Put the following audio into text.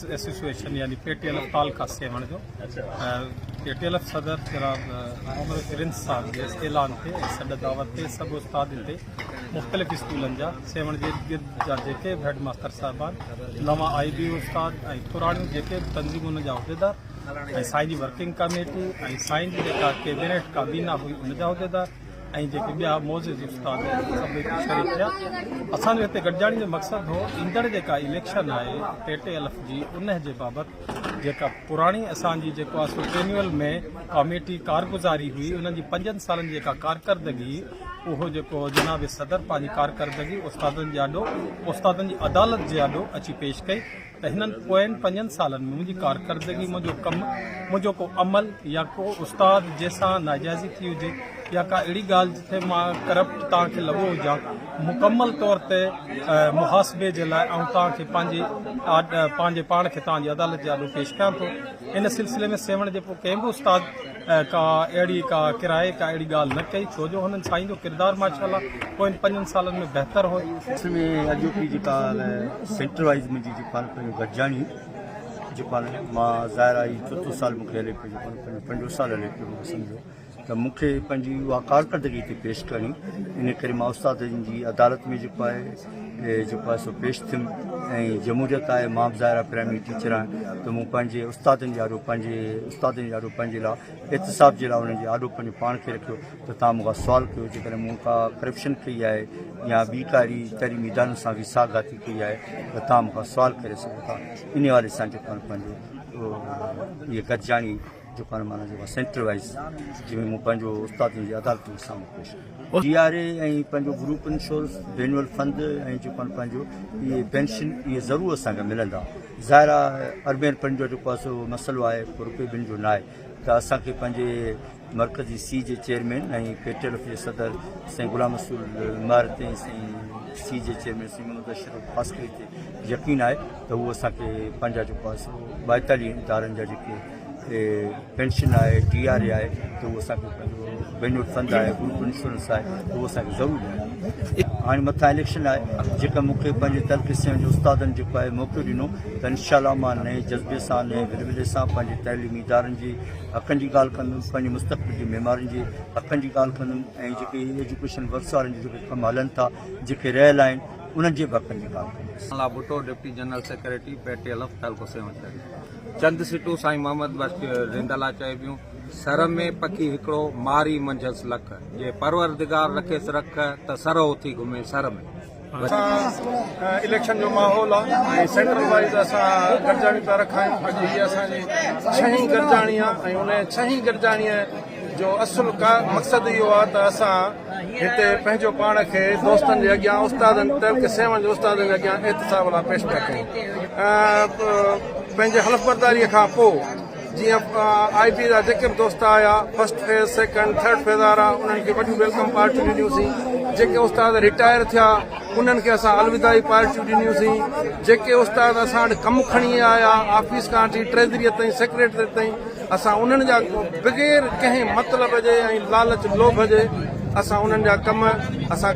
Association يعني P T L F تعلقه سيوهڻ جو پي ٽي ايل ايف صدر جناب محمد پرنس صاحب جي اعلان تي سڏ دعوت تي سڀ استاد تي مختلف اسڪولن جا سيوهڻ جي گرد جا جيڪي به هيڊ ماستر صاحبان نوان آئي بي استاد ۽ پراڻيون جيڪي به تنظيمون جا عهديدار ۽ سائين جي ورڪنگ ڪميٽي ۽ سائين جي جيڪا ڪيبينيٽ ڪابينا هئي ان جا عهديدار ۽ جيڪي ٻيا معزز استاد سڀئي شريڪ ٿيا اسان جو هتي گڏجاڻي جو مقصد هو ايندڙ جيڪا اليڪشن آهي ٽي ٽي الف جي ان جي بابت جيڪا پراڻي اسان جي جيڪو آسو ٽرينيول ۾ ڪاميٽي ڪارگزاري هئي ان جي پنجن سالن جيڪا ڪارڪردگي اهو جيڪو جناب صدر پنهنجي ڪارڪردگي استادن جي آڏو استادن جي عدالت جي آڏو اچي پيش ڪئي ته هنن پوين پنجن سالن ۾ منهنجي ڪارڪردگي، منهنجو ڪم، منهنجو ڪو عمل يا ڪو استاد جنهن سان ناجائزي ٿي هجي يا ڪا اهڙي ڳالهه جتي مان ڪرپٽ توهان کي لڳو هجان، مڪمل طور تي محاسبي جي لاء آئون توهان کي پنهنجي پنهنجي پاڻ کي توهان جي عدالت جي آڏو پيش ڪيان ٿو. ان سلسلي ۾ سيوهڻ جي پوء ڪنهن به استاد. ڪا اهڙي ڪا ڪرائي ڪا اهڙي ڳالهه نه ڪئي ڇو جو هنن سائين جو ڪردار ماشاءالله پوين پنجن سالن ۾ بهتر هو. اصل ۾ اڄ او پي جيڪا سينٽر وائيز منهنجي جيڪو آهي پنهنجو گڏجاڻي جيڪو آهي مان ظاهر آهي چوٿون سال مونکي هلي پيو جيڪو پنهنجو پنجون سال هلي پيو مونکي سمجهو ته مونکي پنهنجي اها ڪارڪردگي تي پيش ڪرڻي ان ڪري مان استادن جي عدالت ۾ جيڪو آهي جو پاسو پيش ٿيم ۽ جمهوريت آهي مان به ظاهر پرائمري ٽيچر آهيان ته مون پنهنجي استادن جي آڏو پنهنجي استادن جي آڏو پنهنجي لاء احتساب جي لاء انهن جي آڏو پنهنجو پاڻ کي رکيو ته تان مونکان سوال ڪيو جيڪڏهن مون کا ڪرپشن ڪئي آهي يا ٻي ڪا اهڙي تعليمي ادارن سان ويساهه گهاتي ڪئي آهي ته تان مونکان سوال ڪري سگهو ٿا ان حوالي سان جيڪو پنهنجو اهو گڏجاڻي جو پاڻ معنيٰ جيڪا سينٽر وائيز جنهن ۾ مون پنهنجو استادن جي عدالتن جي سامهون پيش ڪيو جي آر اي ۽ پنهنجو گروپ انشورنس بينول فند ۽ جو پاڻ پنهنجو اهي پينشن اهي ضرور اسان کي ملندا ظاهر آهي اربين پن جو جيڪو اصل مسئلو آهي پو روپي بن جو ناهي ته اسان کي پنهنجي مرڪزي C G chairman ۽ P T L F جي صدر سائين غلام رسول مار تي سائين سی جي چيئرمين سائين محمد اشرف خاص ڪري تي يقين آهي ته هو اسان کي پنهنجا جيڪو اصل ٻائيتاليهه ادارن جا جيڪي پينشن آهي ٽي آر اي آهي ته اهو اسان کي پنهنجو فنڊ آهي گروپ انشورنس آهي ته اهو اسان کي ضرور ڏياري هاڻي مٿان اليڪشن آهي جيڪا مونکي پنهنجي ترقي سين جو استادن جيڪو آهي موقعو ڏنو ته انشاء الله ماء نئي جذبي سان نئي ورولي سان پنهنجي تعليمي ادارن جي حقن جي ڳالهه ڪندم پنهنجي مستقبل جي ميمارين جي حقن جي ڳالهه ڪندم ۽ جيڪي ايجوڪيشن ورڪس وارن جي جيڪي ڪم هلن ٿا جيڪي رهيل آهن انهن جي به حقن جي ڳالهه ڪندم Allah Bhutto deputy general secretary P T L F تعلقو سيون شهري چند سٽون سائين محمد بخش رند لا چئبيون. سر ۾ پکي هڪڙو ماري منجهس لک. جي پروردگار رکيس رک ته سر اٿي گهمي سر ۾. اسان اليڪشن جو ماحول آ ۽ سينٽرل وائيز اسان گڏجاڻي پيا رکايون اڄ هي اسان جي ڇهين گڏجاڻي آ ۽ ان ڇهين گڏجاڻي جو اصل مقصد اهو آهي ته اسان هتي پنهنجو پاڻ کي دوستن جي اڳيان استادن ٽيلڪ سيون جي استادن جي اڳيان احتساب لاء پيش پيا ڪيون ۽ پنهنجي حلف برداري کان پوء جيئن آئي پي جا جيڪي به دوست آيا first phase second third phase وارا انهن کي وڏيون ويلڪم پارٽيون ڏنيوسين جيڪي استاد ريٽائر ٿيا انهن کي اسان الوداعي پارٽيون ڏنيوسين جيڪي استاد اسان وٽ ڪم کڻي آيا آفيس کان اچي ٽريزريء تائين سيڪريٽريٽ تائين اسان انهن جا بغير ڪنهن مطلب جي ۽ لالچ لوڀ جي اسان انهن جا ڪم اسان